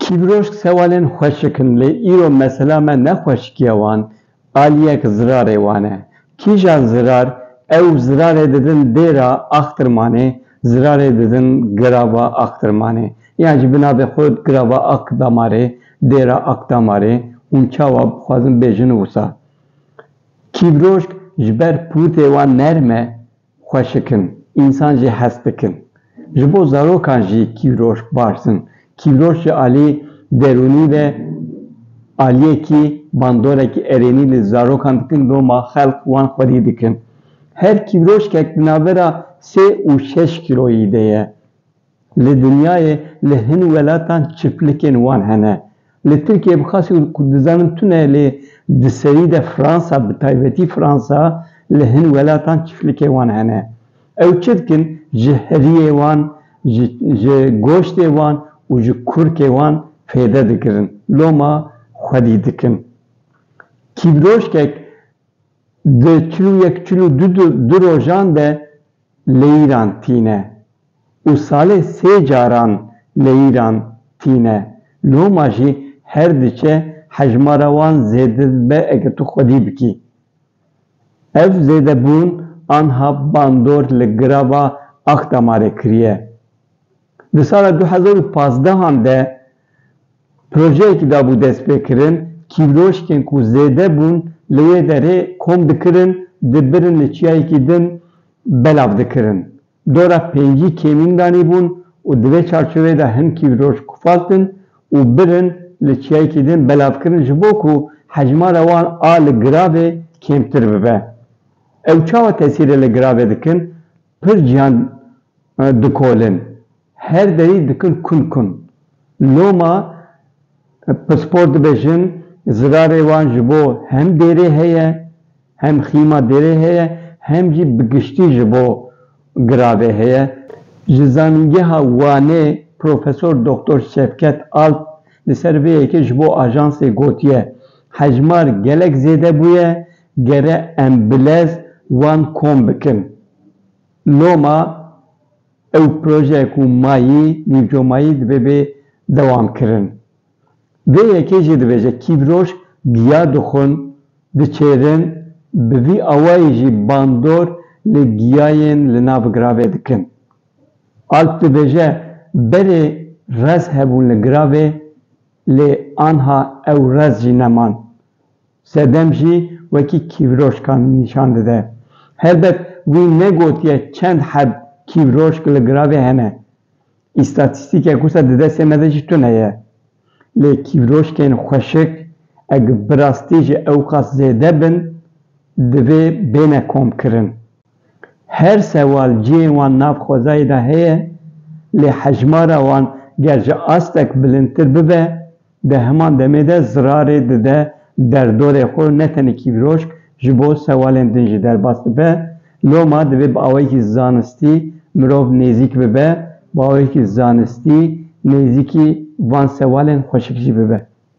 Kîbrojk sewalên xweşik in lê îro mesela me ne xweşikiya wan, aliyek zirarê wan e. Kîjan zirar? Ew zirarê didin dêra axtirmanê, zirarê didin girava axtirmanê. Yan ji bi navê xwe girava Akdamarê, dêra Akdamarê, hûn çawa bixwazin bêjin wisa. Kîbrojk ji ber pûrtê wan nerm e, Xweşik in, însan jî hes dikin. Ji bo zarokan jî kîroş baş in. Kîroş ji aliyê derûnî ve aliyekî, bandorekî erênî li zarokan dikin loma xelk wan xwedî dikin. Her kîroşkek di navbera sê û şeş kîloyî de ye. Li dinyayê li hin welatan çiplikên wan hene. Li Tirkiyeyê bi qasî û ku dizanim tune lê di serî de Fransa bi taybetî Fransa li hin welatan çiflikê wan hene. Ew çi dikin ji heriyê wan, ji ji goştê wan û ji kurkê wan fêde digirin. Loma xwedî dikin. Kîvroşkek. Di çil û yek çil û du rojan de leyîran tîne û salê sê caran leyîran tîne. Loma jî her diçe hejmara wan zêde dibe eger tu xwedî bikî. Ev zêdebûn anha bandor li girava Axdamarê kiriye. Di sala du hezar û pazdeh an de Projeyekî dabû destpêkirin, kîvloşkên ku zêde bûn li wê derê kom dikirin, dibirin li çiyayekî din belav dikirin. Dora pêncî kêmîn danîbûn û di vê çarçoveyê de hin kîvloşk xwestin û birin li çiyayekî din belav kirin ji bo ku hejmara wan a li giravê kêmtir bibe. Ew çawa tesîrê li giravê dikin? Pir cîhan dikolin. Her derî dikin kun kun. Loma pispor dibêjin zirarê wan ji bo hem dêrê heye, hem xîma dêrê heye, hem jî bi giştî ji bo giravê heye. Ji Zanîngeha Wanê Profesor Doktor Şevket Alp li ser vê yekê ji bo Ajansê gotiye, Hejmar gelek zêde bûye, gere em bi lez wan kom bikin. Loma Ew projeya ku ma yî nîvco ma yî divê bê dewamkirin. Vê yekê jî dibêje kîvroj giya dixwin, diçêrin, bi vî awayî jî bandor li giyayên li nav giravê dikin. Alp dibêje berê rez hebûn li giravê lê anha ew rez jî neman. Sedem jî wekî kîvroşkan nîşan dide. Helbet wî negotiye çend heb kîvroşk li giravê hene. Îstatîstîkek wisa di destê me de jî tune ye. Lê kîvroşkên xweşik eg bi rastî ji ewqas zêde bin divê bêne komkirin. Her sewal cihê wan nav xwezayê de heye, lê hejmara wan ger ji astek bilindtir bibe, di heman demê de zirarê dide derdorê xwe û ne tenê kîvroşk ji bo sewalên din jî derbas dibe. Loma divê bi awayekî zanistî mirov nêzîk bibe, bi awayekî zanistî nêzîkî van sewalên xweşik jî bibe.